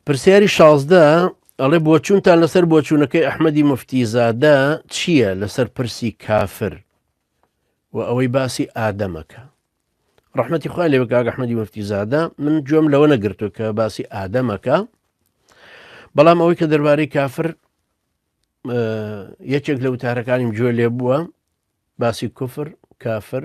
پرسیاری شازدە ئەڵێ بۆچوونتان لەسەر بۆچوونەکەی ئەحمەدی مفتیزادە چییە لەسەر پرسی کافر و ئەوەی باسی ئادەمەکە ڕحمەتی خوا لێ بکگە حمەدی مفتیزادە من گوێم لەوە نەگرتو کە باسی ئادەمەکە بەڵام ئەوەی کە دەربارەی کافر یەکێک لە وتارەکانیم گوێ لێ بووە باسی کوفر کافر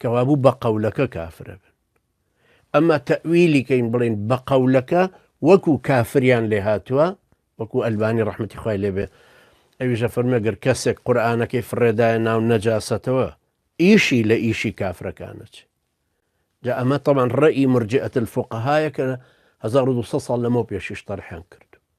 کەوابوو بە قەولەکە کافر ئەبن ئەما تەئویلی کەین بڵێین بە قەولەکە وەکو کافریان لێ هاتووە وەکو ئەلبانی ڕەحمەتی خوای لێبێ ئەویشە فەرمەگەر کەسێک قورآانەکەی فڕێدایە ناو نەجاسەتەوە ئیشی لە ئیشی کافرەکانەچ جا ئەمە تەمان ڕێی مرجئەت الفقهایە کە 1900 ساڵ لەمەو پێشیش تەرحیان کرد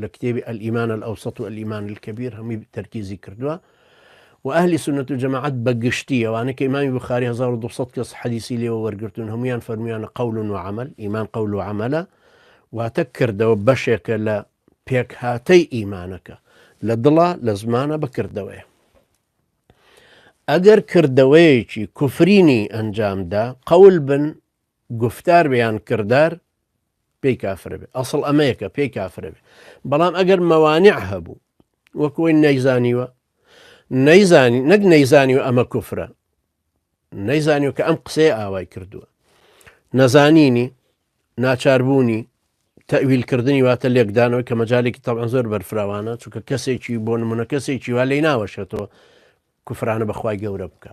لە کتێبی الایمان الاوسط و الایمان الکبیر هەمووی تەرکیزی کردووە و ئەهلی سنت و جەماعەت بە گشتی ئەوانەی کە ئیمامی بخاری 1200 کەس حەدیسی لێوە وەرگرتون هەمویان فەرمویانە قول و عمل ئیمان قول و عملە واتە کردەوە بەشێکە لە پێکهاتەی ئیمانەکە لە دڵە لە زمانە بەکردەوەیە ئەگەر کردەوەیەکی کوفرینی ئەنجامدا قەول بن گفتار بیان کردار پێی کافرە بێ ئەسڵ ئەمەیە کە پێی کافرە بێ بەڵام ئەگەر مەوانع هەبوو وەکۆی نەیزانیوە نەیزانی نەک نەیزانی و ئەمە کوفرە نەیزانی و کە ئەم قسەی ئاوای کردووە نەزانینی ناچاربوونی تەویلکردنی واتە لێکدانەوە کە مەجالێکی تەوان زۆر بەرفراوانە چونکە کەسێکی بۆ نمونە کەسێکی وا لی ناوەشێتەوە کوفرانە بەخوای گەورە بکە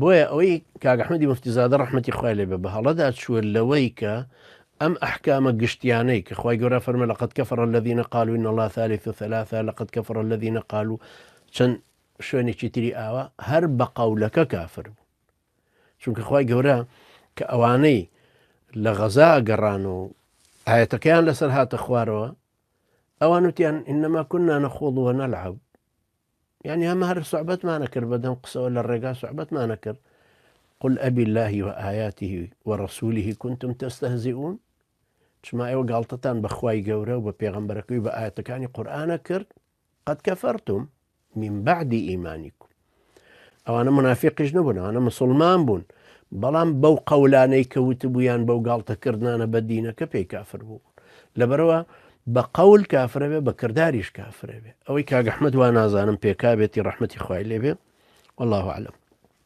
بۆیە ئەوەی کاک ئەحمەدی موفتیزادە ڕەحمەتی خوای لێ بێ بە هەڵەدا چووە لەوەی کە ئەم ئەحکامە گشتیانەی کە خوای گەورە فەرمە لەقد کفر الذين قالوا ان الله ثالث ثلاثة لقد كفر الذين قالوا چەند شوێنێکی تری ئاوا هەر بە قەولەکە کافر بوو چونکە خوای گەورە کە ئەوانەی لە غەزا گەڕان و ئاەتەکەیان لەسەر هاتە خوارەوە ئەوان وتیان ئینەما کوننا نەخۆڵووە نەلعب یانی ئەمە هەر سوعبەتمانە کرد بەدەم قسەوە لە ڕێگا سوعبەتمانە کرد قل ئەبی اللهی و ئاياته و ڕسوولیه کنتم تەستەهزیئون چما ئێوە گاڵتەتان بەخوای گەورە و بە پێغەمبەرەکەی بە ئاەتەکانی قورآانە کرد قەت کەفەرتم من بعدی ئیمانیکم ئەوانە منافقیش نەبوون ئەوانە مسلمان بوون بەڵام بەو قەولانەی کەوت بوویان بەو گاڵتەکردانە بە دینەکە پێی کافر بوو لەبەرەوە بە قەول کافرە بێ بە کرداریش کافرە بێ ئەوەی کاک احمد وا نازانم پێکا بێتی ڕەحمەتی خوای لێ بێ واللە اعلم.